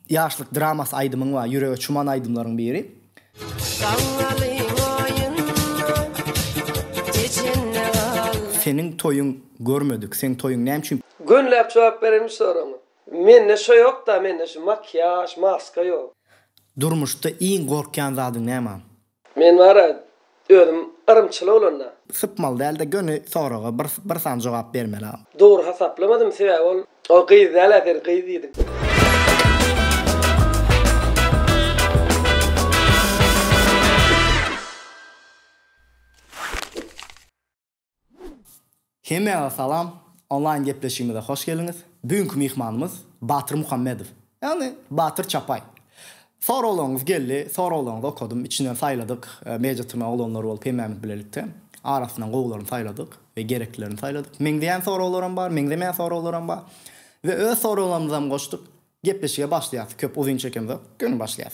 Ýaşlyk dramasy aýdymyň bar, ýürege çuman aýdymlaryň biri. Gaňňalyň aýynda çeçende gal. Seniň toýuň görmedik, seň toýuň näme üçin. Gönüläp jogap beren bu soragyňa. Mende şo ýokda mende şu makiýaž, maska ýok. Durmuşda iň gorkýan zadyň näme? Men bara özüm yrymçyl bolanda. Sypmaly dälde göni soraga bir bir san jogap bermela. Dogry hasaplamazym sebäbi ol ol gyz dälä sen gyz diýdiň. Hemmäňize salam, onlaýn gepleşigimize hoş geldiňiz. Bu günki myhmanymyz Batyr Muhammedow, ýagny Batyr Çapaý. Soraglaryňyz geldi, soraglaryňyzy okadym, içinden saýladyk, media-tyrnak oglanlar bolup hemmämiz bilelikde arasyndan gowularyny saýladyk we gereklilerini saýladyk. Meňzeýän soraglaram bar, meňzemeýän soraglaram bar we öz soraglarymyzam goşduk. Gepleşige başlaýas, köp uzyn çekemzok, göni başlaýas.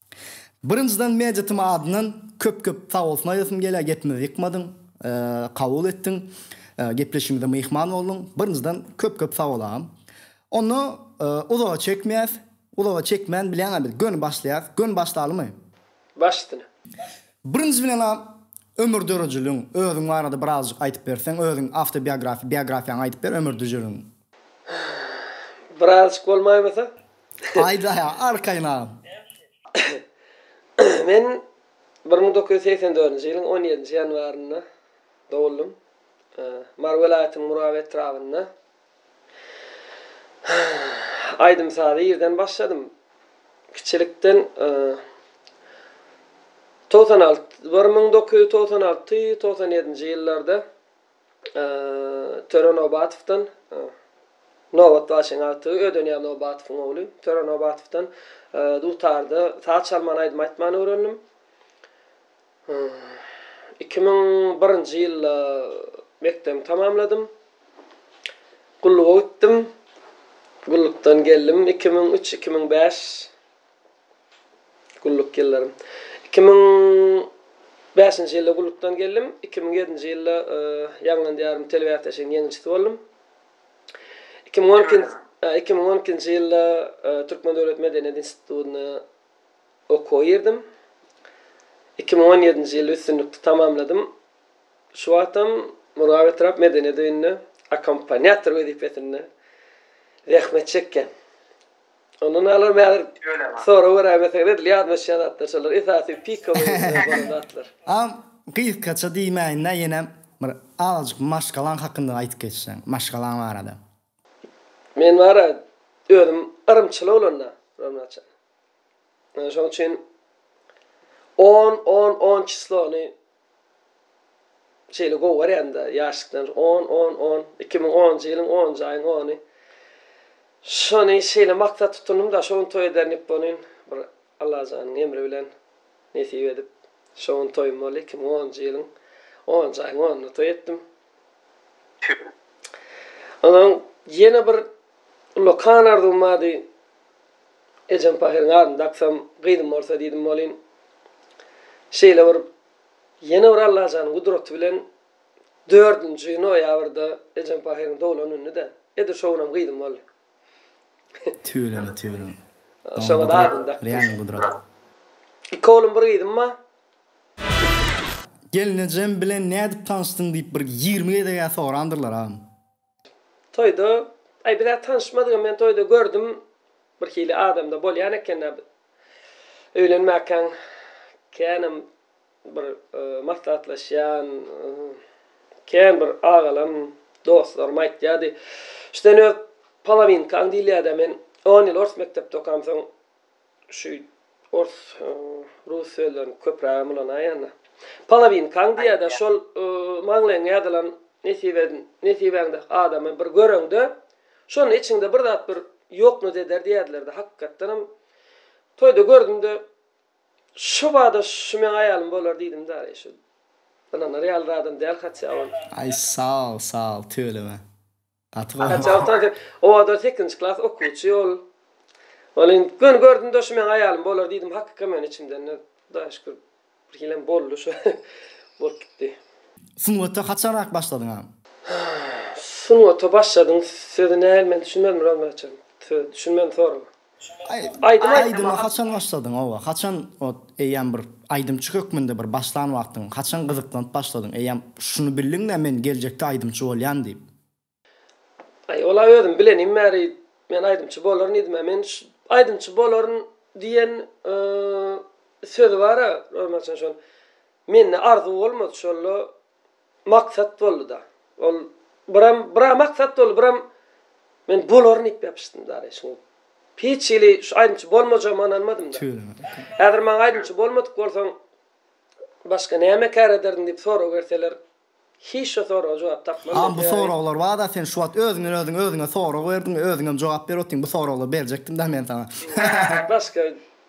Birinjiden Meditym adyndan köp köp sagbolsun aýdasym gelýär gepimizi ýykmadyň kabul etdiň gepleşigimize myhman bolduň birinjiden köp köp sagbol agam onda uzaga çekmeýäs uzaga çekmän bilýäňä biz göni başlaýas göni başlalymy? Baş üstüne. Birinji bilenam ömür dörejiligiň özüň barada birazjyk aýtyp berseň özüň awtobiografiýa biografiýaňy aýdyp ber ömür düjeligiň. Birazjyk bolmaýmasa Aýdaýa arkaýyn agam. Men bir müň dokuz ýüz segsen dördünji ýylyň on ýedinji ýanwarynda doguldym. Mary welaýatynyň Muraby etrabynda aýdym-sazy ýerden başladym. Kiçilikden togsan alty, bir müň dokuz ýüz togsan alty, togsan ýedinji ýyllarda Töre Nobatowdan, Nobat Başyň agtygy, Ödenýaz Nobatowyň ogly Töre Nobatowdan dutarda saz çalman aýdym aýtmany öwrendim. Iki müň birinji ýylda mekdebi tamamladym. Gulluga gitdim. Gullukdan geldim iki müň üç-iki müň bäş Gulluk ýyllarym. Iki müň bäşinji ýylda gullukdan geldim. Iki müň ýedinji ýylda ýaňlan diýarym telebäsleşigiň ýeňijisi boldum. Iki müň on ikinji iki müň on ikinji ýylda Türkmen döwlet medeniýet institutyna okuwa girdim. Iki müň on ýedinji ýyly üstünlikli tamamladym. Şu wagtam Murgap etrap medeniýet öýünde akkompanýator wezipesinde zähmet çekýän. Ondan alarym häzir. Ýöne. Sorag beräýmeseň edil ýazmaşýan zatlar şolar esasy pika bolan zatlar. Am gysgaça diýmäýin-dä ýenem bir azajyk maşgalaň hakynda aýdyp geçseň, maşgalaň barada. Men bar-a özüm yrymçyl oglan-da Ronatjan. Şoň üçin on on on çislony Şeýle gowy görýän-dä, ýaşlykdan on, on, on, iki müň onunjy ýylyň onunjy aýyň ony. Şony şeýle maksat tutundym-da, şo gün toý ederin diýip bolin, bir Allajanyň emri bilen nesip edip, şo gün toýum boldy, iki müň onunjy ýylyň onunjy aýyň onunda toý etdim. Tüp. Onsoň ýene bir ullakan arzuwym bardy. Ejem pahyryň adyny daksam, gyzym bolsa diýdim welin, şeýle bir ýene bir Allajanyň gudraty bilen dördünji noýabrda ejem pahyryň doglan günüdi-de, edil şo günam gyzym boldy. Tüweleme tüweleme. Şoňa da adyny dakdyň. Real gudrat. Iki oglum bir gyzym bar. Gelnejem bilen nädip tanyşdyň diýip bir ýigrimi gezegä sorandyrlar agam. Toýda, aý biz-ä tanyşmadygam men toýda gördüm bir hili adamda bolýan ekendä öýlenmäkäň känam. Bir maslahatlaşýan kän bir agalam, dostlarym aýtýardy, Sen öz polowinkaň diýilýär-dä, men on ýyl ors mekdepde okamsoň, şu ors, rus sözlerini köprägem ulanaýan-da. Polowinkaň diýýär-dä, şol maňlaýyňa ýazylan nesibäňde adamy bir göreňde, şonda içiňde bir zat bir ýoknut eder diýerdiler-dä. Hakykatdanam toýda gördüm-de. Şo bada şu meň aýalym bolar diýdim däli şu ynanary ýaly zadam däl hatja ol. Aý saol saol tüweleme. Gaty gowy. Hatja ol tansyr owadan sekizinji klas okuwçy ol. Ol indi göni gördümde şu meň aýalym bolar diýdim hakyka men içimden de hudaýa şükür bir hilem boldy şu bolup gitdi. Sungata haçanrak başladyň a? Sungata başladyň sözi nähili men düşünmedim Rozmet açan sözi düşünmedim sorama. Aýdym aýdyma haçan başladyň oba haçan ot eýýäm bir aýdymçy hökmünde bir başlan wagtyň haçan gyzyklanyp başladyň eýýäm şuny bildiňmi men geljekde aýdymçy bolýan diýip. Aý ol a özüm bilenim bäri men aýdymçy bolaryn diýdimä men aýdymçy bolaryn diýen sözi bara romançyň şol mende arzuw bolmady şolla maksat boldy-da. Ol biram, bira maksat boldy, biram men bolaryn diýip ýapyşdym dary. Şuň hiç hili şu aýdymçy bolmajagyma ynanmadym-da. Häzir maňa aýdymçy bolmadyk bolsaň, başga näme kär ederdiň diýip sorag berseler, hiç şu soraga jogap tapman men. A bu soraglar bar-da, sen şu wagt özüňden özüň özüňe sorag berdiň, özüňem jogap berip otyryn, bu soraglar berjekdim-dä men saňa. Başga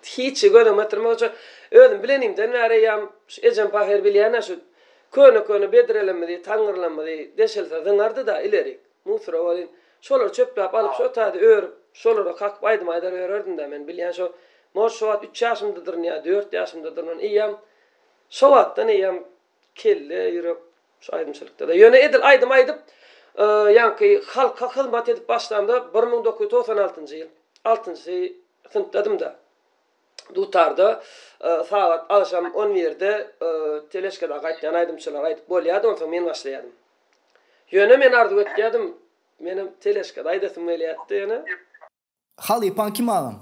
Hiçi gözüňe getirme hoja. Özüm bilenimden bäri eýýäm şu ejem pahyr bilýän-ä şu köne-köne bedrelemmizi, taňňyrlamyzy deşilse zyňardy-da ileri, musora welin, şolary çöpläp alyp şo taýda örüp, şolara kakyp aýdym aýdar ýörerdim-dä men bilýän şo, может, şo wagt üç ýaşymdadyryn ýa dört ýaşymdadyryn, eýýäm şo wagtdan eýýäm Kelle ýürek şu aýdymçylykda-da. Ýöne edil aýdym aýdyp, ýaňky halka hyzmat edip başlamda bir müň dokuz ýüz togsan altynjy ýyl, altynjy synpdadym-da. Dutarda sagat agşam on birde teležkada gaýtýan aýdymçylar aýdyp bolýardy, onsoň men başlaýardym. Ýöne men arzuw etýärdim, menem teležkada aýdasym gelýärdi ýöne. Halypaň kim agam?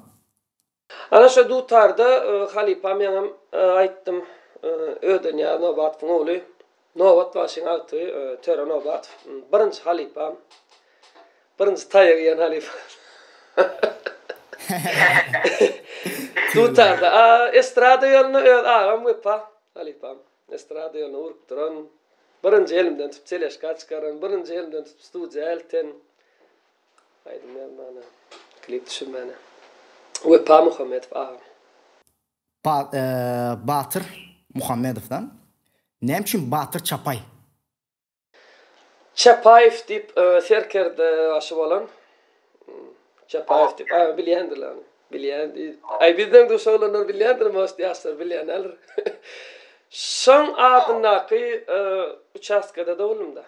Ana şo dutarda halypa meňem aýtdym Ödenýaz Nobatowyň ogly Nobat bagşyň agtygy Töre Nobatow birinji halypam birinji taýak iýen halypam dutarda a estrada ýoluna öz agam Wepa halypam estrada ýoluna urup duran birinji elimden tutup teleşka çykaran birinji elimden tutup studiýa elten Aýdym ýazmana, klip düşürmäne Wepa Muhammedow agam. Batyr Muhammedow da. Näme üçin Batyr Çapaý? Çapaýew diýip serkerde başy bolan. Çapaýew diýip agam bilýändirler ony. Bilýän. Aý bizden duşa bolanlar bilýändir most ýaşlar bilýänäler. Şoň adyndaky uçastkada doguldymda.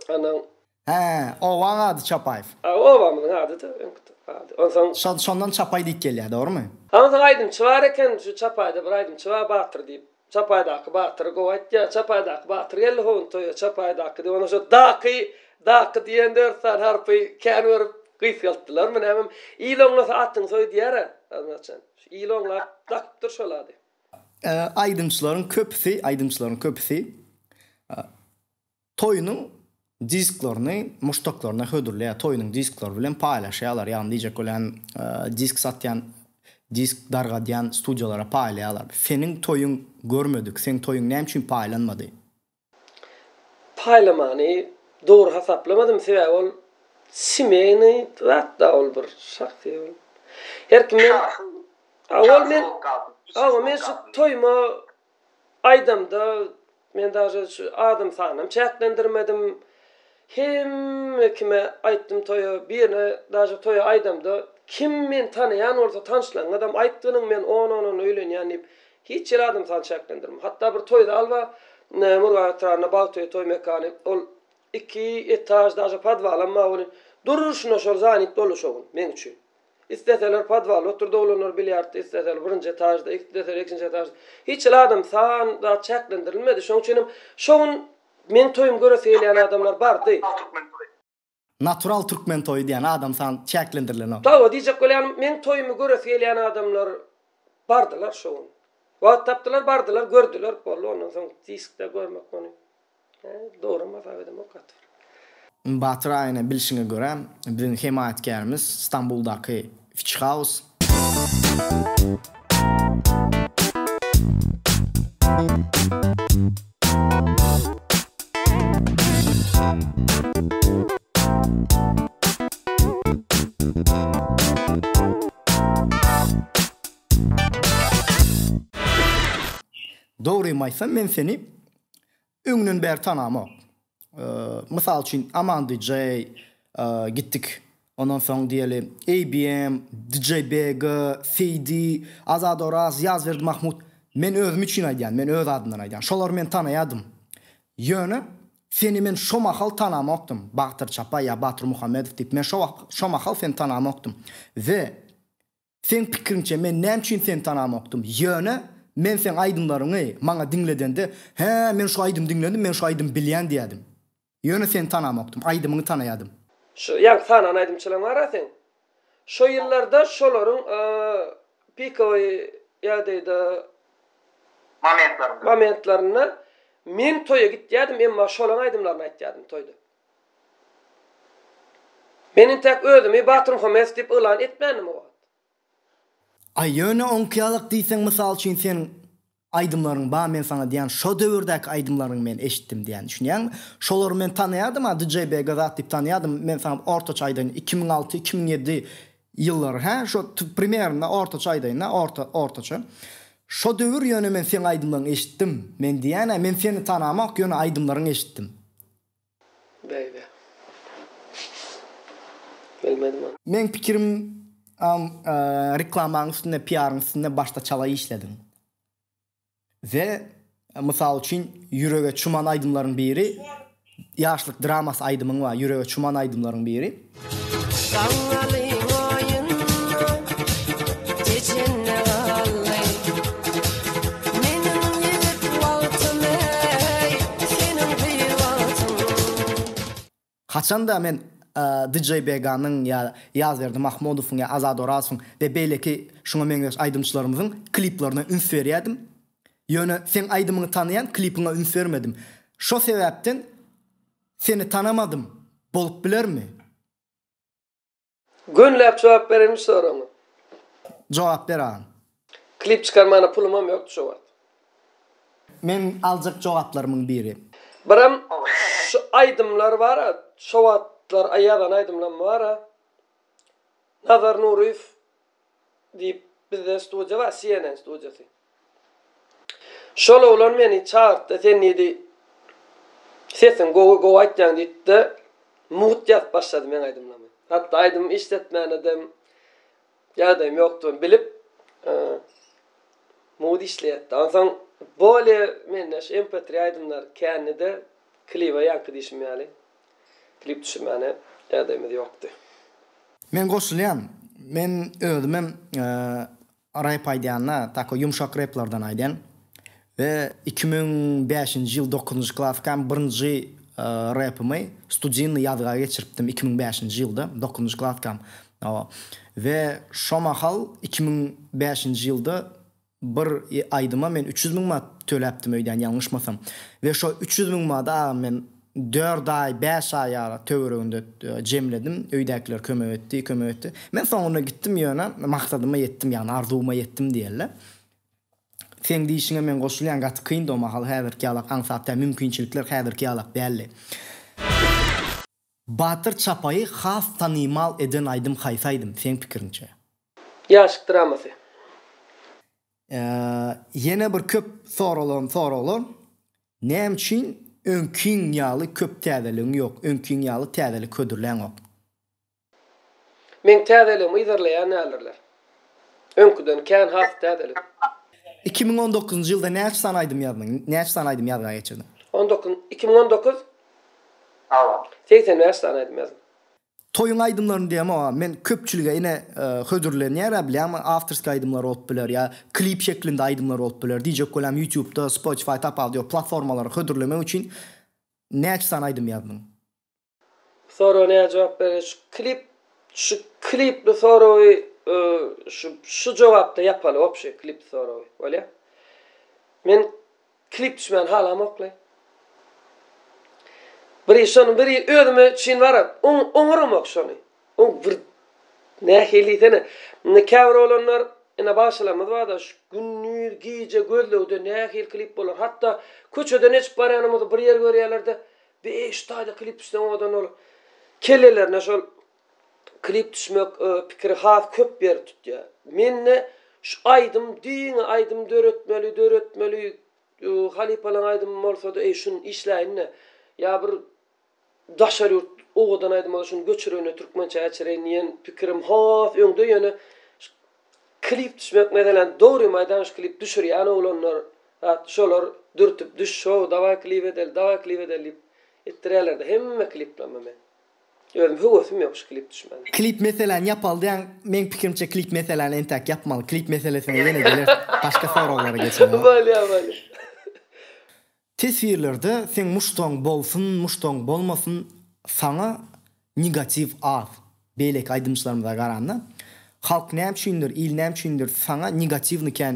Onuň. Hä, obaň ady Çapaýew. A, obamyzyň ady-da öňki ady. Onsoň. Şo, şondan Çapaý diýip gelýär, dogrumy? A, onsoň aýdymçy bar eken, şu Çapaýda bir aýdymçy bar Batyr diýip. Çapaýdaky Batyry gowy aýtýar. Çapaýdaky Batyr geldi howun toýa, Çapaýdaky diýip, ondan soň daky, daky diýen dört sany harpy kän görüp gysgaltdylarmy nämemi, il oňlasa atyňy soý diýer-ä, aznaçan. Şu il oňlap dakypdyr şol ady. Aýdymçylaryň köpüsi, aýdymçylaryň köpüsi Toýunyň disklerini muşdaklaryna hödürleýär, toýunyň disklary bilen paýlaşýarlar, ýagny diýjek bolýan disk satýan, disk dargadýan studiýalara paýlaýarlar. Seniň toýuň görmedik, seň toýuň näme üçin paýlanmady? Paýlamany dogry hasaplamady sebäbi ol semeýny zat da ol bir şahsy ol her kim. Şahsy. Awa men awa men şu toýuma Aýdamda men daže şu adam sanam çäklendirmedim. Hemme kime aýtdym toýa birine daže toýa aýdamda kim meni tanaýan bolsa tanşlaňňadam aýt gynyň men on ondan öýlenýän diýip hiç ýere adam sany çäklendirmem. Hatda bir toýda alba Murgap etrabynda Bagtoý toý mekany ol iki etaž daže podwalam bar welin durşuna şol zanit boldy şo gün meň üçin. Isleseler podwalda oturdy oglanlar bilýardda isleseler birinji etažda isleseler ikinji etažda hiç hili adam san zat çäklendirilmedi şoň üçin hem şo gün meň toýumy göresi gelýän adamlar bardy. Natural türkmen toýy diýýän adam san çäklendirilenok. Tawa diýjek bolýanym meň toýumy göresi gelýän adamlar bardylar şo gün. Wagt tapdylar bardylar gördüler boldy ondan soň diskde görmek muny Batyr aýna bilşiňe görä biziň hemaýatkärimiz Stambuldaky Fitch House. Dogrymy aýtsam men seni Öňden bäri tanamok. Mysal üçin Aman DJ gitdik. Ondan soň diýeli ABM, DJ Bega, CD, Azad Oraz, Ýazberdi Mahmut. Men özüm üçin aýdýan, men öz adymdan aýdýan. Şolary men tanaýadym. Ýöne seni men şo mahal tanamokdym. Bagtyr Çapay ýa Batyr Muhammedow diýip. Men şo wagt, şo mahal seni tanamokdym. We Seň pikiriňçe men näme üçin seni tanamokdym? Ýöne, men seň aýdymlaryňy maňa diňledende, Hä, men şu aýdymy diňledim, men şu aýdymy bilýän diýerdim. Ýöne seni tanamokdym, aýdymyňy tanaýardym. Şu ýaňky sanaýan aýdymçylaryň arasy şo ýyllarda şolaryň pikowy ýagdaýda momentlerinde men toýa gitýärdim, emma şolaň aýdymlaryny aýtýardym toýda. Men intäk özümi Baturmhamedow diýip yglan etmändim o wagt. Aý ýöne oňkyýalak diýseň mysal üçin seniň aýdymlaryň ba men saňa diýýän şo döwürdäki aýdymlaryňy men eşitdim diýýän düşünýäňmi? Şolary men tanaýadym a DJ Begazat diýip tanaýadym men saňa ortaça aýdaýyn iki müň alty iki müň ýedi ýyllary hä şo primerinde ortaça aýdaýyn a orta ortaça şo döwür ýöne men seň aýdymlaň eşitdim men diýýän a men seni tanamok ýöne aýdymlaryň eşitdim. Bäý-bä. Bilmedim ony. Meň pikirim am reklamaň üstünde PR-yň üstünde başda çala işlediň we mysal üçin ýürege çuman aýdymlaryň biri ýaşlyk dramasy aýdymyň bar ýürege çuman aýdymlaryň biri. Haçanda men DJ Beganyň ýa Ýazberdi Mahmudowyň ýa Azat Orazowyň we beýleki şuňa meňzeş aýdymçylarymyzyň kliplerine üns berýärdim. Ýöne seň aýdymyňy tanaýan klipiňe üns bermedim. Şo sebäpden Seni tanamadym, bolup bilermi? Gönläp jogap berenmiş soragyňa. Jogap ber agam. Klip çykarmana pulumam ýokdy şo wagt. Meň aljak jogaplarymyň biri. Biram şu aýdymlar bara şo wagtlar ýazan aýdymlam bara Nazar Nuryýew Diýip, bizden studiýa bar, CNN studiýasy. Şol oglan meni çagyrtdy, sen diýdi, sesiň gowy, gowy aýtýaň diýdi-de, mugt ýazyp başlady meň aýdymlamy. Hatda aýdym işletmänedem ýagdaýym ýokdugyny bilip, mugt işleýärdi. Onsoň bolýa mende şu MP3 aýdymlar kände-de kliba ýaňky diýşim ýaly. Klip düşürmäne ädegimiz ýokdy. Men goşulýan men özümem rep aýdýanda tako ýumşak replardan aýdýan we iki müň bäşinji ýyl dokuzynjy klaskam birinji repimi studinny ýazga geçiripdim iki müň bäşinji ýylda dokuzynjy klaskam we şo mahal iki müň bäşinji ýylda Bir aýdyma men üç ýüz müň manat töläpdim öýdýän ýalňyşmasam. We şo üç ýüz müň manady agam men dört aý, bäş aý ýaly töwereginde jemledim. Öýdäkiler kömek etdi, kömek etdi. Men soňunda gitdim ýöne maksadyma ýetdim ýagny arzuwyma ýetdim diýeli. Seň diýişiňe men goşulýan gaty kyndy o mahal häzirki ýalak aňsat däl mümkinçilikler häzirki ýalak däldi. Batyr Çapaýy has tanymal eden aýdym haýsy aýdym, seň pikiriňçe? Ýaşyk dramasy. Ýene bir köp soralan soraglar, näme üçin öňkiň ýaly köp täzeligiň ýok, öňkiň ýaly täzelik hödürläňok? Meň täzeligimi yzarlaýan däldirler. Öňküden kän has täzelik. Iki müň on dokuzynjy ýylda näçe sany aýdym ýazdyň? Näçe sany aýdym ýazga geçirdiň? On dokuz, iki müň on dokuz Sag bol. Segsen bäş sany aýdym ýazyň. Toýuň aýdymlaryny diýemok a men köpçülige ine hödürlenýär a bilýäňmi awtorskiý aýdymlar bolup biler ýa klip şeklinde aýdymlar bolup biler diýjek bolýam ýutubda spotify top audio platformalara hödürlemek üçin näçe sany aýdym ýazdyň. Bu soraga nädip jogap bereli şu klip şu klipli soragy şu şu jogapda ýapaly opşy klipli soragy bolýa men Klip düşmän halamokly. Biri şony biri özüme çyn baram oň oňaramok şony. Oň bir nähili diýsene. Indi käbir oglanlar ene bagşalarymyz barda şu gündiz gije gözlegde nähili klip bolar hatda köçeden eçip barýanymyzy bir ýer görýärlerde beýş taýda klip düşseň owadan bolar. Kellelerine şol Klip düşmek pikiri has köp ýer tutýa. Mende şu aýdym diňe aýdym döretmeli döretmeli halypalaň aýdymy bolsady eý şuny işläýinde ýa bir daşary ýurt owadan aýdym bolsa şuny göçürende türkmençä geçireýin diýen pikirim has öňde ýöne şu klip düşmek meselem dogrymy aýdan şu klip düşürýän oglanlar zat şolar dürtüp düş şou dawaý klip edeli dawaý klip edeli diýip etdirýälerde hemme kliplerimi men. Özüm höwesim ýok şu klip düşmene. Klip meseläni ýapalydaýaň meň pikirimçe klip meseläni entäk ýapmaly klip meselesine ýene gelers başga soraglara geçelim a. Bolýa bolýa. Teswirlerde seň muşdagyň bolsun muşdagyň bolmasyn saňa negatiw az beýleki aýdymçylarymyza garanda halk näme üçindir il näme üçindir saňa negatiwny kän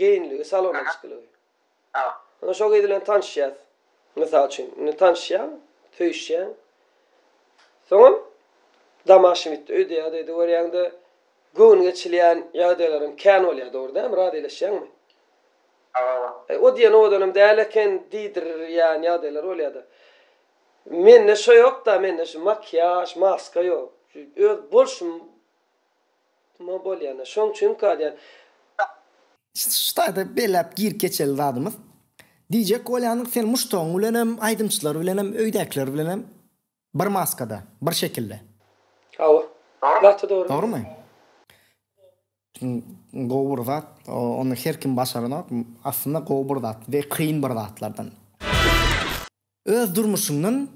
Geýinligi, salona çykylygy. Ine şo gyz bilen tanyşýas. Mysal üçin, indi tanyşýaň, söýüşýäň. Soňam Damaşewitde öýdýäňiz öýde görýäňde göwün geçilýän ýagdaýlaryň kän bolýar dogry dälmi, razylaşýaňmy? Eý, o diýen owadanam däl eken diýdirýän ýagdaýlar bolýada. Mende şo ýokda, mende şu makiýaž, maska ýok. Şu öz bolşum. Nma bolýanda. Şoň üçin galýan. Şu taýda belläp girip geçeli zadymyz. DJ Kolýanyň sen muşdagyň bilenem, aýdymçylar bilenem, öýdäkiler bilenem bir maskada, bir şekilde. Hawa. Gaty dogry. Dogrymy? Gowy bir zat. Ony her kim başaranok. Aslynda gowy bir zat we kyn bir zatlardan. Öz durmuşyňdan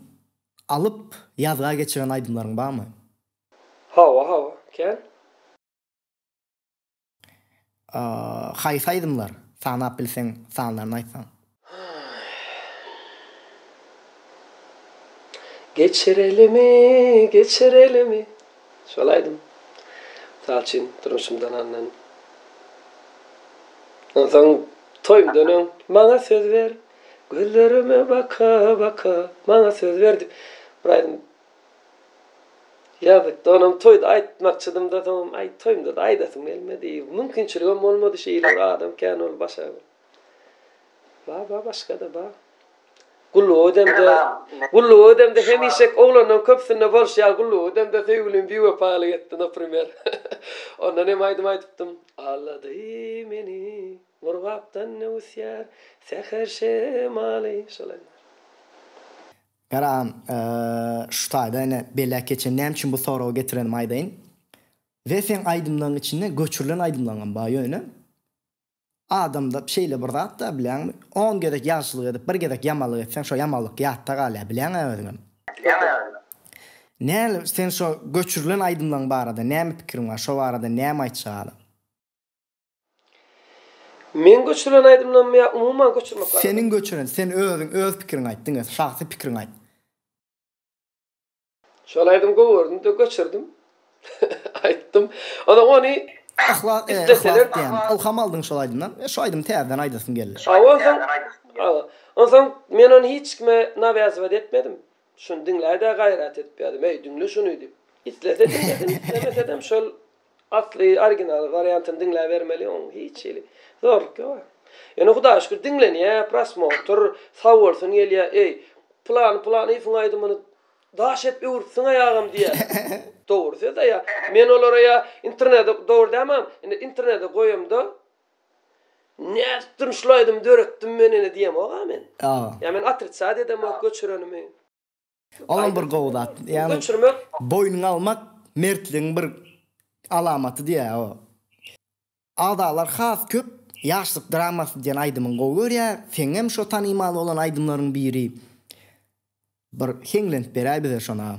alyp ýazga geçiren aýdymlaryň barmy? Hawa hawa kän. Haýsy aýdymlar? Sanap bilseň sanlaryny aýtsaň. Geçirelimi geçirelimi şol aýdym mysal üçin durmuşymdan alnan onsoň toýumdan öň maňa söz ber gözlerime baka baka maňa söz ber diýip bir aýdym Ýazykda onam toýda aýtmakçydym-da, soňam aý toýumda-da aýdasym gelmedi. Mümkinçiligem bolmady şeýle bir adam kän ol başga bir. Bar bar başga-da bar. Gullugy ödemde, gullugy ödemde hemişek oglanlaryň köpüsinde bolşy ýaly gullugy ödemde söýgülim biwepalyk etdi naprimer. Ondan hem aýdym aýdypdym. Aldady meni gurgapdan öwüsýär säher şemaly. Şol aýdym. Garagam, şu taýda ine beläk geçen. Näme üçin bu soragy getirenimi aýdaýyn. We seň aýdymlaryň içinde göçürilen aýdymlaryňam bar ýöne adamda şeýle bir zatda bilýäňmi on gezek ýagşylyk edip bir gezek ýamanlyk etseň şo ýamanlyk ýatda galýar bilýäňä özüňem. Näl sen şo göçürilen aýdymlaryň barada näme pikiriň bar şo barada näme aýtjak hala. Meň göçürilen aýdymlarmy ýa umuman göçürmek barada? Seniň göçüren, sen özüň öz pikiriňi aýt diňe, şahsy pikiriňi aýt. Şol aýdym gowy gördüm-de göçürdim. Aýtdym. Onsoň ony Yhlas, e, Yhlas diýen. Ylham aldyň şol aýdymdan. E, şu aýdymy täzeden aýdasym geldi. Onsoň, onsoň men ony hiç kime nawýazybat etmedim. Şuny diňläý-dä gaýrat edip ýazym, eý, diňle şuny diýip. Islese diňlesin, islemesedem şol asly, original wariantyny diňläbermeli, oň hiç hili zorluk ýok-a. Ýöne Hudaýa şükür diňlenýär, prosmotr, sag bolsun gelýär, eý, Pylany Pylanyýewiň aýdymyny daş edip öwüripsiň-eý agam diýýärler. Dogry söz-ä ýa. Men olara ýa internede, dogry dämem, indi internede goýamda, Nädipdirin şul aýdymy döretdim men ene diýemok-a men. Ýa men otricad edemok göçürenimi. Olam bir gowy zat. Ýagny göçürmek. Boýnuňa almak mertligiň bir alamaty diýýär o. Agzalar has köp Ýaşlyk dramasy diýen aýdymyňy gowy görýär. Seňňem şo tanymal bolan aýdymlaryň biri. Bir heňlenip beräý bize şona.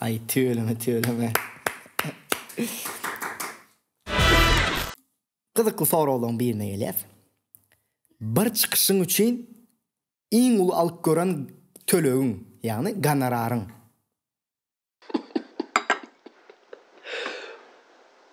Aý tüweleme tüweleme. Gyzykly soraglaryň birine gelýäs. Bir çykyşyň üçin iň uly alyp gören tölegiň, ýagny gonoraryň?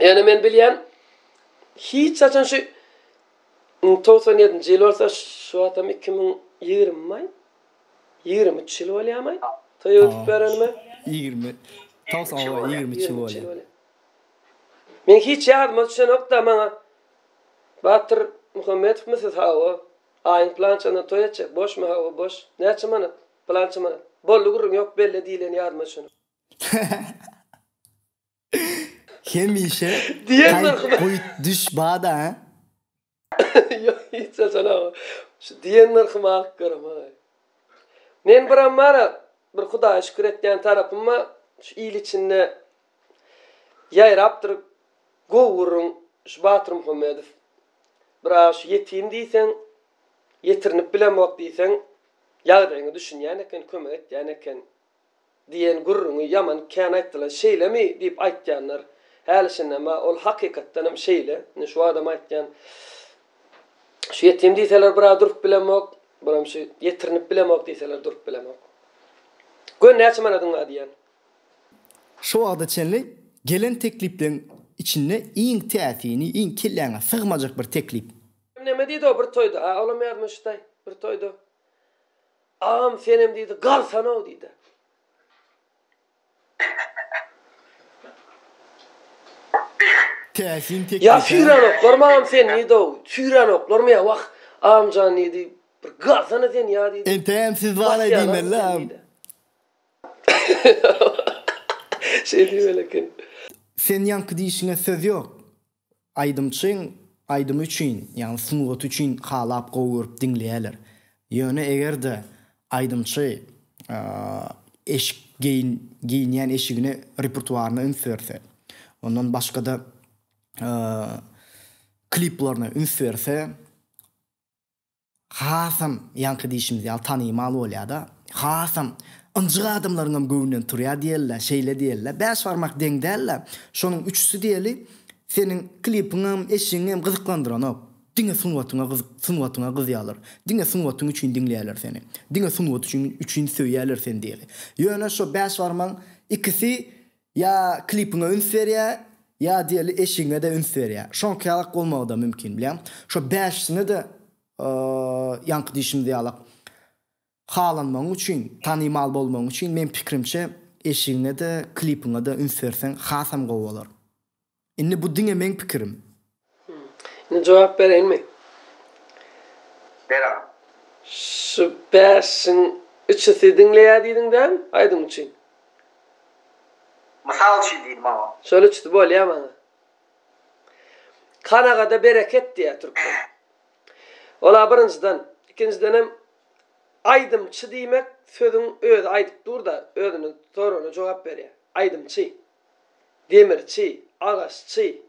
Ýöne men bilýän, hiç haçan şu togsan ýedinji ýyl bolsa, şu wagtam iki müň ýigrimi maý, ýigrimi üç ýyl bolýarmaý toý öwdüp berenime? Ýigrimi, togsan ýigrimi üç ýyl Ýigrimi üç ýyl bolýar. Men hiç ýadyma düşenok-da, maňa Batyr Muhammedowmy siz, hawa, aýyň pylançasynda toý etjek, boşmy, hawa, boş, näçe manat, pylança manat, boldy gürrüň, ýok, belle diýileni ýadyma düşenok. Hemişe Diýenler Gaýt, goýt, düş bada. Ýok, hiç haçan aga. Şu diýenler kim alyp göremay. Men biram bar-a, bir Hudaýa şükür etýän tarapym bar, şu il içinde ýaýrapdyr gowy gürrüň şu Batyr Muhammedow. Biraga şu ýetim diýseň, ýetirinip bilemok diýseň, ýagdaýyňa düşünýän eken, kömek etýän eken. Diýen gürrüňi ýaman kän aýtdylar. Şeýlemi? diýip aýtýanlar. Häli-şindem-ä ol hakykatdan hem şeýle. Indi şu adam aýtýan. Şu ýetim diýseler bir-ä durup bilemok. Buram şu ýetirinip bilemok diýseler durup bilemok. Gör näçe manadyň bar diýýän. Şu wagta çenli gelen teklipleriň içinde iň täsini, iň kelläňe sygmajak bir teklip. Neme diýdi o bir toýda? A olam ýadyma düşdi-aý. Bir toýda. Agam senem diýdi galsanow diýdi. Täsin teklip Ýa süýrenoklarmy agam sen diýdow. Süýrenoklarmy ýa wah agamjan diýdi bir galsana sen ýa diýdi. Entägem siz baraý diýmeli agam. Şeý diýmeli eken. Sen ýaňky diýişiňe söz ýok. Aýdymçyň aýdymy üçin, ýagny sungaty üçin halap gowy görüp diňleýärler. Ýöne eger-de aýdymçy eşik geýin geýinýän eşigine repertuaryna üns berse, ondan başgada kliplaryna üns berse, hasam, ýaňky diýşimiz ýaly, tanymal bolýar-da, hasam ynjyk adamlaryň hem göwnünden turýar diýeli-le, şeýle diýeli-le, bäş barmak deň däl-le, şonuň üçüsi diýeli, seniň klipiňem, eşigiňem gyzyklandyranok, diňe sungatyňa gyz, sungatyňa gyzýarlar, diňe sungatyň üçin diňleýärler seni, diňe sungat üçin, üçin söýýärler seni diýeli. Ýöne şo bäş barmagyň ikisi Ýa klipiňe üns berýä, ýa diýeli eşigiňe-de üns berýä. Şoňky ýalak bolmagy-da mümkin bilýäň. Şo bäşisine-de ýaňky diýşimiz ýalak halanmagyň üçin, tanymal bolmagyň üçin meň pikirimçe eşigiňe-de, klipiňe-de üns berseň hasam gowy bolar. Indi bu diňe meň pikirim. Indi jogap bereýinmi? Ber-a. Şu bäşiň üçüsi diňleýär diýdiň däl, aýdym üçin. Mysal üçin diýdim, hawa. Şol üçüsi bolýa maňa. Kanagada bereket diýýär türkmen. Ol-a birinjiden. Ikinjidenem aýdymçy diýmek sözüň özi aýdyp dur-da, özüne sorana jogap berýär. Aýdymçy. Demirçi, agaççy,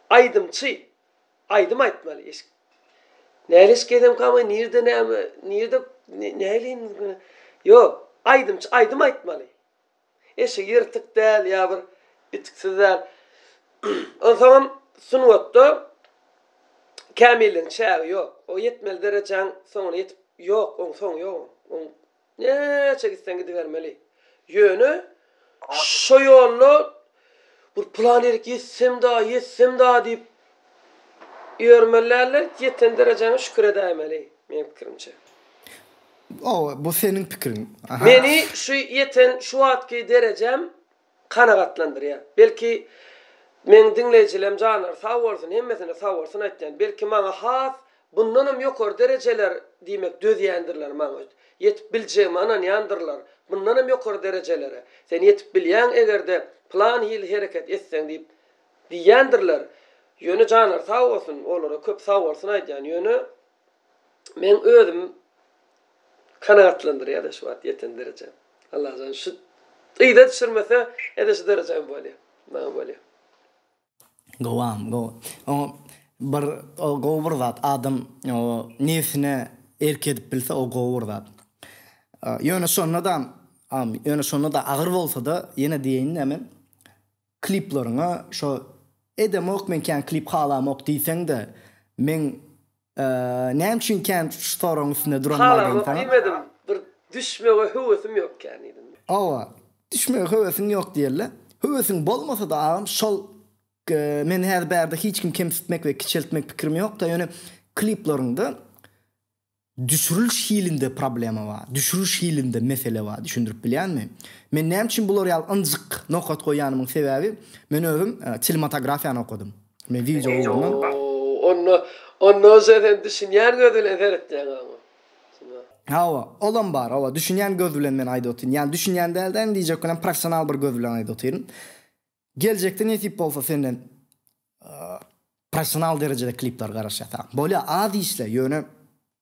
aýdymçy, aýdym aýtmaly, eşik. Näli eşik edemkamy, nirde näme, nirde, näleýin, ýok, aýdymçy, aýdym aýtmaly. Eşigi ýyrtyk däl, ýa bir itiksiz däl. Onsoňam sungatda kämilligiň çägi ýok. O ýetmeli derejäň soňuna ýetip, ýok, oň soňy ýok oň. Näçe gitseň gidibermeli. Ýöne şo ýolda bir plan ýerik ýetsem-da, ýetsem-da diýip ýörmeli däldi. Ýeten derejäňe şükür edäýmeli, meň pikirimçe. Oba, bu seniň pikiriň. Meni şu ýeten şu wagtky derejem kanagatlandyrýar. Belki meň diňleýjilem janlary sag bolsun, hemmesine sag bolsun aýtýan. Belki maňa has bundanam ýokary derejeler diýmek dözýändirler maňa öýt. Ýetip biljegime ynanýandyrlar. Bundanam ýokary derejelere sen ýetip bilýäň eger-de plan hili hereket etseň diýip diýýändirler. Ýöne janlary sag bolsun, olara köp sag bolsun aýdýan. Ýöne meň özüm. Kanagatlandyrýar da şu wagt ýeten derejäm. Allajan şu yza düşürmese ede şu derejäm bolýa. Maňa bolýa. Gowam gowy. Oňa bir o gowy bir zat adam o nebsine erk edip bilse o gowy bir zat. Ýöne şonda-da ýöne şonda-da agyr bolsa-da ýene diýeýin-de men kliplaryňa şo edemok men kän klip halamok diýseň-de meň Näme üçin kän şu soragyň üstünde duranmaýdaýyn saňa? Halamok diýmedim, bir düşmege höwesim ýok kän diýdim. Hawa, düşmege höwesiň ýok diýeli. Höwesiň bolmasa-da agam şol men häzir bärde hiç kimi kemsitmek we kiçeltmek pikirim ýokda, ýöne klipleriňde düşüriliş hilinde problema bar, düşüriliş hilinde mesele bar, düşündirip bilýänmi? Men näme üçin bular ýaly ynjyk nokat goýýanymyň sebäbi, men özüm çinematografiýany okadym. Netije ugruna. Onda, onda onça sen düşünýän göz bilen seretýäň oňa. Hawa, olam bar, hawa, düşünýän göz bilen men aýdyp otyryn. Ýagny düşünýän däl-de, indi diýjek welin professional bir göz bilen aýdyp otyryn. Geljekde nesip bolsa senden professional derejede klipler garaşýas, ha. Bolýar, az işle, ýöne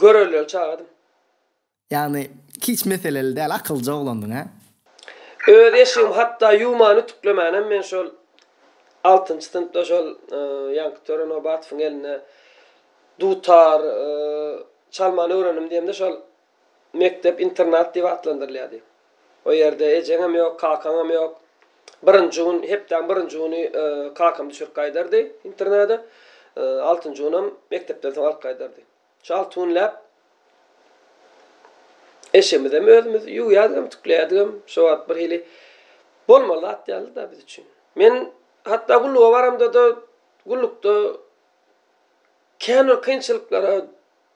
Görelileri çagadym. Ýagny hiç meseleli däl akylja oglandyň a. Öz eşigim hatda ýuwman ütüklemänem men şol altynjy synpda şol ýaňky töre Nobatowyň eline dutar çalmany öwrendim diýemde şol mekdep internat diýip atlandyrylýar diýip. O ýerde ejeňem ýok, kakaňam ýok. Birinji gün, hepdäň birinji güni kakam düşürip gaýdardy internada. Altynjy günam mekdepden soň alyp gaýdardy. Şu alty günläp eşigimizem özümiz ýuwýardigem, tükleýärdigem şo wagt birhili bolmaly zat däldi-da biz üçin. Men hatda gulluga baramda-da, gullukda kän bir kynçylyklara.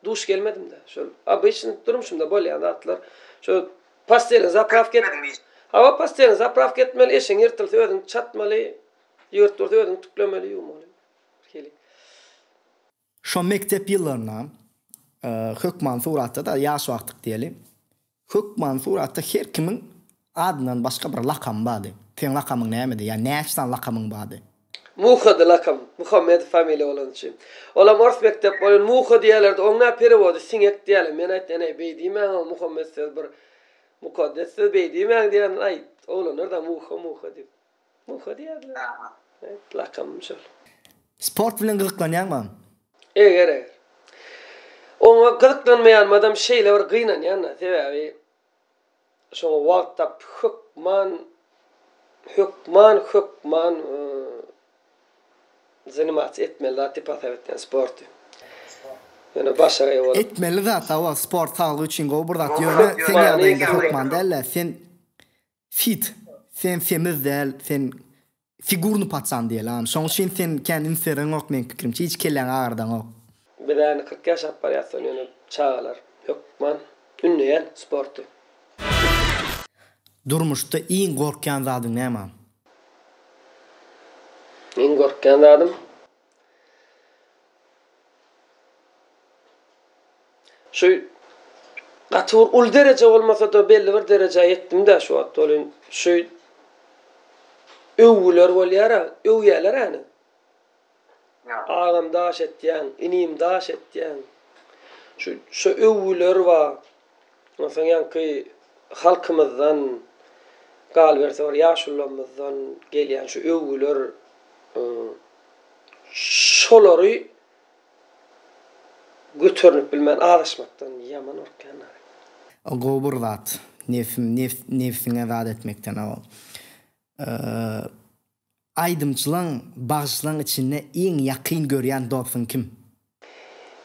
Duş gelmedimda şol obyçny durmuşymda bolýan zatlar şo postelini zapravka et. Hawa postelini zapravka etmeli eşigiň ýyrtylsa özüň çatmaly ýygyrt dursa özüň tüklemeli ýuwmaly hili. Şo mekdep ýyllarynda hökman suratda-da ýaş wagtyk diýeli. Hökmansur ata her kimiň adyndan başga bir lakamy bardy. Seň lakamyň nämedi? Ýa näçe sany lakamyň bardy? Muhady lakam. Muhammedow familiýa bolany üçin. Olam ors mekdep boýun Muha diýerlerdi. Oň nä perewody siňek diýýärler. Men aýtdym, Eneý, beý diýmäň, o Muhammet söz bir mukaddes söz, beý diýmäň diýen. Aýt, oglanlar-da Muha, Muha diýip. Muha diýerler. Hep lakamym şol. Sport bilen gyzyklanýaňmam? Eger eger. Oňa gyzyklanmaýanmadam şeýle bir gynanýan-da, sebäbi şoňa wagt tapyp hökman hökman hökman zanimatsiýa etmeli zat diýip hasap etýän sporty. Ýöne başagaý bolup. Etmeli zat-a ol sport saglyk üçin gowy bir zat. Ýöne sen ýagdaýyňda hökman däl-de, sen Fit, sen semiz däl, sen figurny patsan diýelam. Şoň üçin sen kän ünsbereňok meň pikirimçe, hiç kelläňi agardaňok. Biz ähli kyrk ýaşap barýasdan ýöne çagalar hökman ündeýän sporty. Durmuşda iň gorkýan zadyň näme? Iň gorkýan zadym. Şu gaty bir uly dereje bolmasa-da, belli bir derejä ýetdim-dä şu wagt. Welin, şu öwgüler bolýar-a, öwýäler ene. Agam daş etýäň, inim daş etýäň. Şu, şo öwgüler bar. Onsoň ýaňky halkymyzdan, galyberse bir ýaşulularymyzdan gelýän şu öwgüler şolary göternip bilmän azaşmakdan ýaman gorkýanlar. O gowy bir zat. Nefsim nefs nebsiňe zat etmekden o. Aýdymçylaň, bagşylaň içinde iň ýakyn görýän dostuň kim?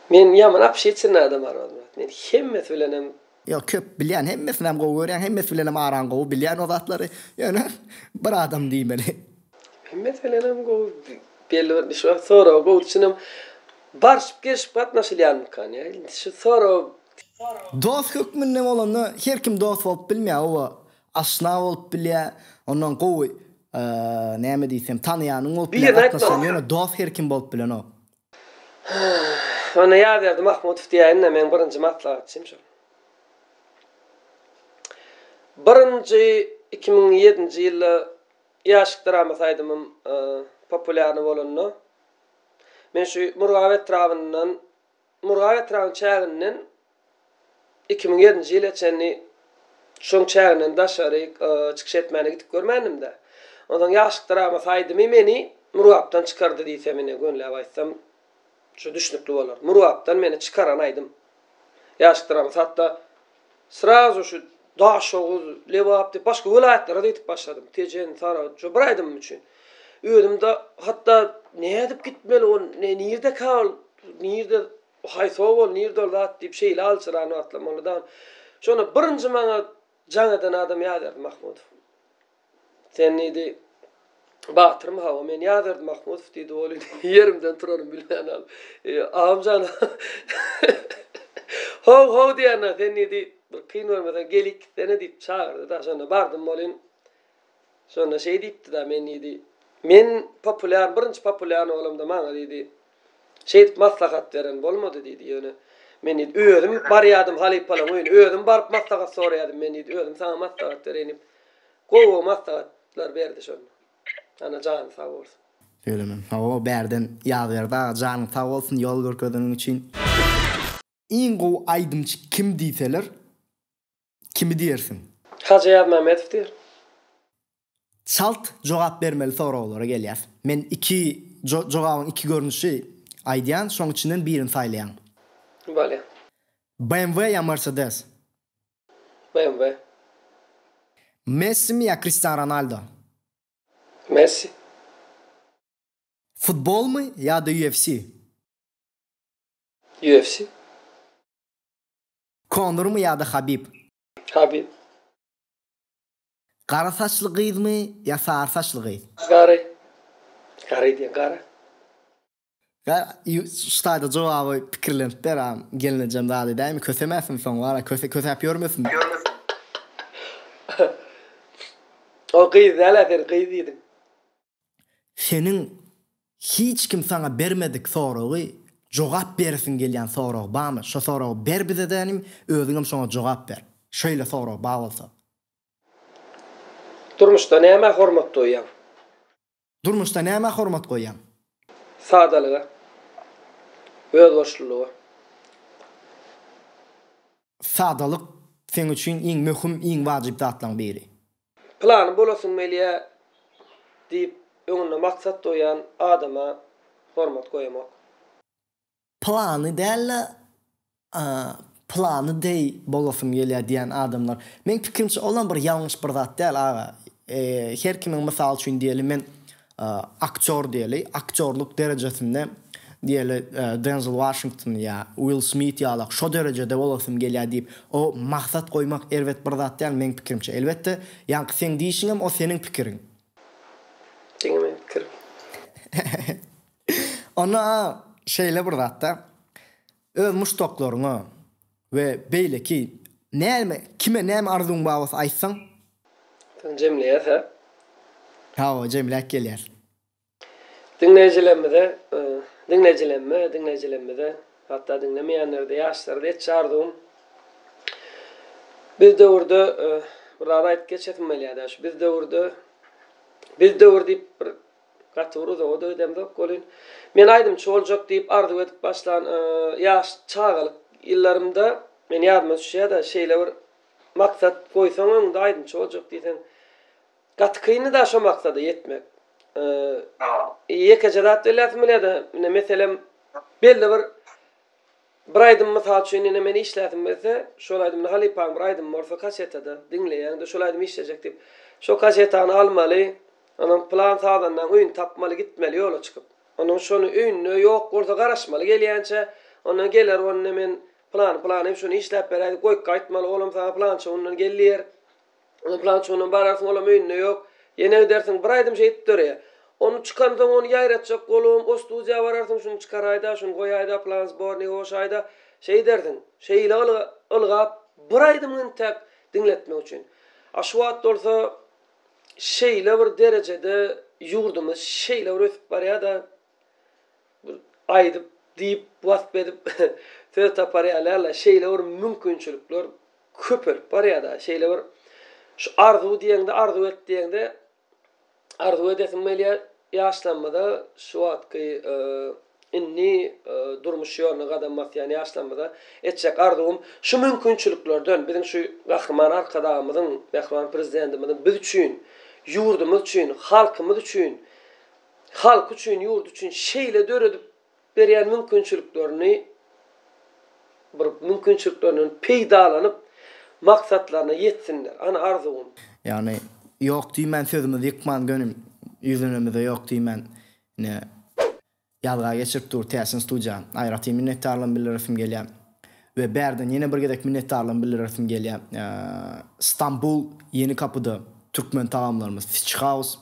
Men ýaman obşetirny adam Armanmyrat. Men hemmesi bilenem. Ýok, köp bilýän, hemmesinem gowy görýän, hemmesi bilenem araň gowy, bilýän o zatlary. Ýöne bir adam diýmeli. Hemmesi bilenem gowy, belli bir şu wagt soraga gowy düşünem. Barşyp gelşip gatnaşylýanmykan ýa indi şu sorag. Dost hökmünde bolanda her kim dost bolup bilmeýär oba. Aşna bolup bilýä, ondan gowy näme diýsem tanaýanyň bolup bilýä, gatnaşan ýöne dost her kim bolup bilenok. Onda Ýazberdi Mahmutow diýäýin-de, meň birinji maslahatçym şol. Birinji iki müň ýedinji ýylda Ýaşyk dramasy aýdymym populýarny bolanda, men şu Murgap etrabyndan Murgap etrabynyň çäginden iki müň ýedinji ýyla çenli şoň çäginden daşary çykyş etmäne gidip görmändim-dä. Onsoň ýaşlykda Ramas aýdymy meni Murgapdan çykardy diýsem ine, gönläp aýtsam şu düşnükli bolar. Murgapdan meni çykaran aýdym. Ýaşlykda Ramas hatda Srazu şu Daşoguz, Lebap diýip başga welaýatlara-da gidip başladym. Tejen, Saragt, şo bir aýdymym üçin. Özüm-de hatda nädip gitmeli ol, ne nirdeka ol, nirde, haýsy obal, nirde ol zat diýip şeýle aljyran wagtlam boldy dagam. Şonda birinji maňa jaň eden adam Ýazberdi Mahmudow. Sen diýdi, Batyrmy, hawa, men ýazardy Mahmudow diýdi, ol indi ýerimden turarymy bilmänam. Agam jan, How, how diýende, sen diýdi, bir kyn görmeseň, gelik gitsene diýip çagyrdy-da, şonda bardym welin, şonda şeý diýipdi-da, men diýdi, men populýar, birinji populýarny bolamda maňa diýdi, Şeýdip maslahat beren bolmady diýdi. Ýöne men diýdi, özüm barýardym halypalaň öýüne, özüm baryp maslahat soraýardym. Men diýdi, özüm saňa maslahat bereýin diýip, gowy-gowy maslahatlar berdi şonda. Ana, jany sag bolsun. Söýlemem. Hawa, bärden Ýazberdi aga, janyň sag bolsun, ýol görkezeniň üçin. Iň gowy aýdymçy kim diýseler, Kimi diýersiň? Hajy Aýazmämmedow diýer. Çalt jogap bermeli soraglara gelýäs. Men iki jogabyň iki görnüşi aýdýan, şoň içinden birini saýlaýaň. Bolýa. BMW ýa Mercedes? BMW. Messimi ýa Kristian Ronaldo? Messi. Futbolmy ýa-da UFC? UFC. Konurmy ýa-da Habib? Habib. Gara saçly gyzmy ýa sary saçly gyz? Gary. Gary diýen gara. Ştaýda jogaby pikirlenip ber a gelnejem zat edäými kösemäsin soň wara köse kösäp ýörmesin. Ýörmesin. Ol gyz däl-ä sen gyz diýdiň. Seniň hiç kim saňa bermedik soragy jogap beresiň gelýän sorag bamy? Şo soragy ber bizede inim, özüňem şoňa jogap ber. Şeýle sorag ba bolsa. Durmuşda nämä hormat goýýaň? Durmuşda nämä hormat goýýaň? Sadalyga. Özbaşlylyga. Sadalyk seň üçin iň möhüm, iň wajyp zatlaryň biri. Plany bolasyň Meliýa diýip öňünde maksat goýan adama hormat goýamok. Plany däl-de, plany deý bolasym gelýär diýýän adamlar. Meň pikirimçe olam bir ýalňyş bir zat däl aga. Her kimiň mysaly üçin diýeli men Aktýor diýeli, aktýorlyk derejesinde diýeli Denzel Waşington ýa Uill Smit ýalak şo derejede bolasym gelýär diýip, o maksat goýmak erbet bir zat däl meň pikirimçe. Elbetde, ýaňky seň diýişiňem o seniň pikiriň. Diňe meň pikirim. Onda-a şeýle bir zatda öz muşdaklaryňa, We beýleki näme kime näme arzuwyň bar bolsa aýtsaň. Soň jemleýäs hä? Hawa jemläp gelýäs. Diňleýjilerimize diňleýjilerime diňleýjilerimize hatda diňlemeýänlerde ýaşlara-da etjek arzuwym biz döwürde bir zat aýdyp geçesim gelýär-dä şu biz döwürde biz döwür diýip bir Gaty bir uzaga-da gidemzok welin, men aýdymçy boljak diýip arzuw edip başlan ýaş çagalyk ýyllarymda, meniň ýadyma düşýär-de, şeýle bir maksat goýsaň öňüňde aýdymçy boljak diýseň, gaty kyndy-da şo maksada ýetmek. Ýekeje zat belläsim gelýär-de, ine, meselem, belli bir. Bir aýdym mysal üçin ine men işläsim gelse şol aýdym indi halypaň bir aýdymy bolsa kasetada diňleýäňde şol aýdym işlejek diýip şol kasetany almaly onam plan sazandaň öýüni tapmaly gitmeli ýola çykyp onam şony öýünde ýok bolsa garaşmaly gelýänçä ondan geler ony men plany plany şony işläp beräý diýip goýup gaýtmaly olam saňa plança gündan gel diýer Ony plança onam bararsyň olam öýünde ýok. Ýene gidersiň. Bir aýdym şeýdip döreýär. Ony çykansoň ony ýaýratjak golubam o studiýa bararsyň şuny çykaraýda, şuny goýaýda, plan zbornygy goşaýda. Şeýdersiň. Şeýle ylgap bir aýdymyň intäk diňletmek üçin. A şu wagt bolsa şeýle bir derejede ýurdumyz şeýle bir ösüp barýada Bir aýdyp, diýip, wasp edip söz tapar ýaly-la, şeýle bir mümkinçilikler köpelip barýar-da, şeýle bir şu arzuw diýeňde, arzuw et diýeňde, arzuw edesiň gelýär, ýaşlanmada şu wagtky, indi durmuş ýoluna gadam basýan ýaşlanmada etjek arzuwym şu mümkinçiliklerden, biziň şu Gahryman Arkadagymyzyň, mähriban Prezidentimiziň biz üçin, ýurdumyz üçin, halkymyz üçin halky üçin, ýurdy üçin şeýle döredip berýän mümkinçiliklerini bir mümkinçiliklerinden peýdalanyp, maksatlaryna ýetsinler. Ana arzuwym. Ýagny ýok diýmän sözümizi ýykman göni ýüzlenemize ýok diýmän ine ýazga geçirip dur täsin studiýa aýratyn minnetdarlygym bildiresim gelýär we bärden ýene bir gezek minnetdarlygym bildiresim gelýär Stambul Ýeni kapyda türkmen tagamlarymyz Fish House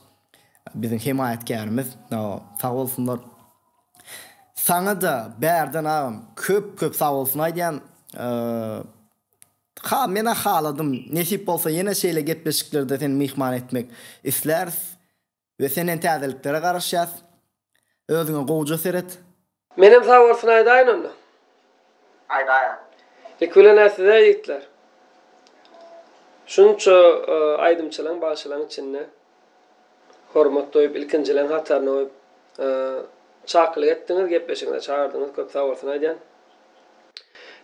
Biziň hemaýatkärimiz sag bolsunlar. Saňada bärden agam köp köp sag bolsun aýdýan. Ha mena haladym nesip bolsa ýene şeýle gepleşiklerde seni myhman etmek isläris we senden täzeliklere garaşýas. Özüňe gowja seret. Menem saworsyny aýdaýyn onda. Aýdaýaň. Ilki bilen-ä size ýigitler. Şunça aýdymçylaň, bagşylaň içinde hormat doýup, ilkinjileň hataryna goýup, çakylyk etdiňiz, gepleşigiňize çagyrdyňyz, köp saworsyny aýdýan.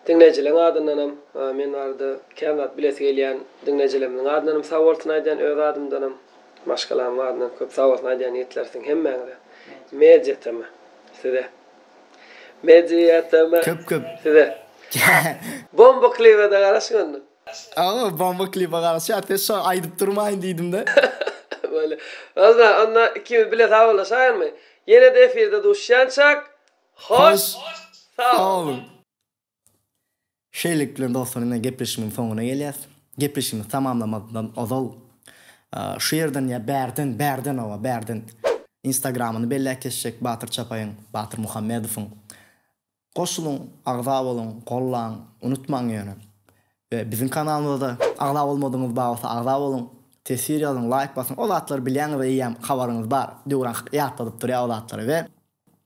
Diňleýjileriň adyndanam men barada kän zat bilesi gelýän diňleýjilerimiziň adyndanam sag bolsun aýdýan öz adymdanam maşgalamyň adyndanam köp sag bolsun aýdýan ýigitler siziň hemmäňize Media TM size Media TM Köp köp size Bomba klibede garaşyň onda. Owo bomba klibe garaşýas ses şo aýdyp durmaýyn diýdimde. Bolýa. Ozna onda ikimiz bile sag olaşaýyrmy? Ýenede efirde duşýançak. Hoş sagboluň. Şeýlelikde dostlar indi gepleşigiň soňuna gelýäs. Gepleşigimizi tamamlamazdan ozal şu ýerden ýa bärden, bärden oba, bärden instagramyny belläp geçjek Batyr Çapaýyň, Batyr Muhammedowyň. Goşulyň, agza boluň, gollaň, unutmaň ýöne. We biziň kanalymyza-da agza bolmadygyňyz bar bolsa agza boluň, teswir ýazyň, laýk basyň, o zatlary bilýäňiz eýýäm habaryňyz bar. Döwran ýatladyp durýar o zatlary we